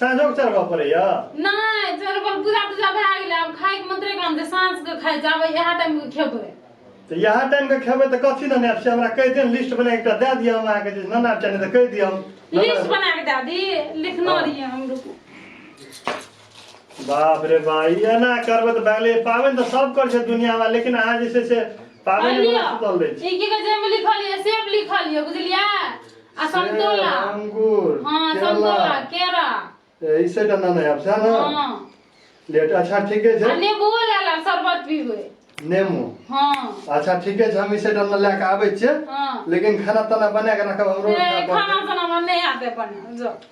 साँझो के चढ़बऽ पड़ैया नहि चरबल पूजा तूजा भए गेलै आब खाइके मंत्रे काम छै साँझके खाइ छै आब इएह टाइमके खेबै तऽ इएह टाइम के खेबै तऽ कथी लेने आयब से हमरा कहि दिअ लिस्ट बना एकटा दए दिअ हम अहाँके जे नाना चाहे तऽ कहि दिअ हम नाना- लिस्ट बना के दए दी लिखना हाँ। रहिए हम रुकू बाप रे बा ई एना करबै तऽ भए गेलै पाबनि तऽ सब करै छै दुनियामे लेकिन अहाँ जे छै से पाबनि लिअ। सुतल रहै छी ई की कहै छै एहिमे लिखल यऽ सेब लिखल यऽ बुझलियै आ संतोला सेब, अंगूर हँ केला संतोला केरा ए, ई सेटा ना नयाब सह ना हँ लेट अच्छा ठीके आ छै नेबुओ लए ला शरबत पीबै नेमो हँ अच्छा ठीके छै हम ई सेटा ना लए के आबै छियै हँ लेकिन खाना ताना बना के रखब हमरो ए, खाना ताना हमरा नहि आते बने जो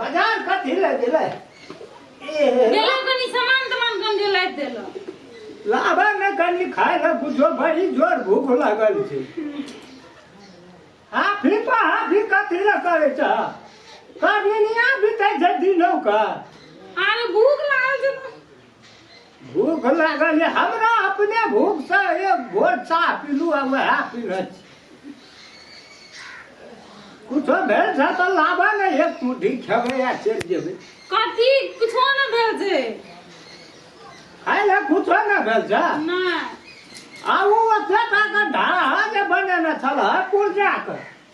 बाजार कथी ले गेलै ए गेला कनी सामान तमान गंदे लाइट देला लाबा ने कनी खाय ले बुझो बड़ी जोर भूख लागल छै आ फिर पहा फिर कथी ले करे छ करनिया बितै छै दिनो का अरे भूख लागल छै भूख लागल ये हमरा अपने भूख से ये भोर चाह पीलू आ वह पीने छी कुछो भेल छै तऽ लाबऽ ने एक मुट्ठी खेबै आ चलि जेबै कथी कुछो न भेल छै खाइ लए कुछो ने भेल छै नहि आ ओ ओते टा के ढाहा जे बनेने छलह पुर्जा के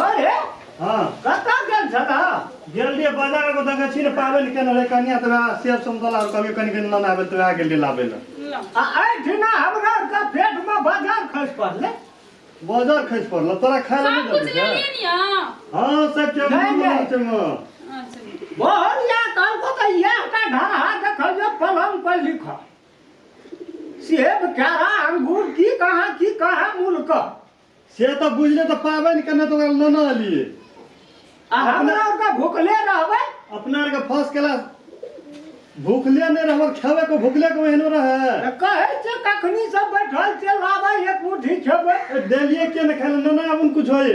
अरे हाँ कतऽ गेल छला गेल रहिए बाजार को दगे छी ने पाबे ने केने रहे कनिया तो वहाँ सेब संतोला और कभी कनी कनी लाना आबे तो वहाँ गेल रहे लाबे ला आ आइ ठिना हमरा का पेट में बाजार खस पड़ले बाजार खस पड़ल तोरा खाए ला सब नहीं कुछ देबे ले लिए क्या निया हाँ सब चल नहीं, नहीं। माछ में अच्छा बहुत या कल को तो ये का ढाहा देखल जे पलंग पर लिखा सेब केरा अंगूर की कहाँ की कहाँ मुल्क से तऽ बुझले तऽ पाबनि केने तऽ ओकरा लेना लिए आ हमरा ओकरा भुखले रहबै अपना आरके फर्स्ट क्लास भूखले नहि रहब खेबे को भूखले को एहनो रहे तऽ कहै छै कखनी से बैठल छै लाबै एक मुट्ठी खेबै ए, देलिए के ने खाए लेना आबुन कुछ होए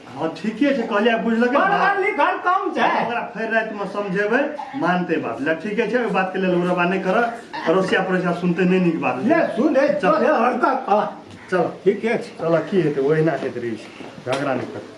हँ ठीके छै कहलियै बुझलकै पढ़ल लिखल कम छै ओकरा फेर रातिमे समझेबै मानते बात लए ठीके छै ओहि बातके लेल ओकरा बात नहि करऽ पड़ोसिया पड़ोसिया सुनते नहि नीक बात ले सुने चल हरका आ चल ठीके छै चल की हेतै ओहिना हेतै रहै छै झगड़ा नहि करतै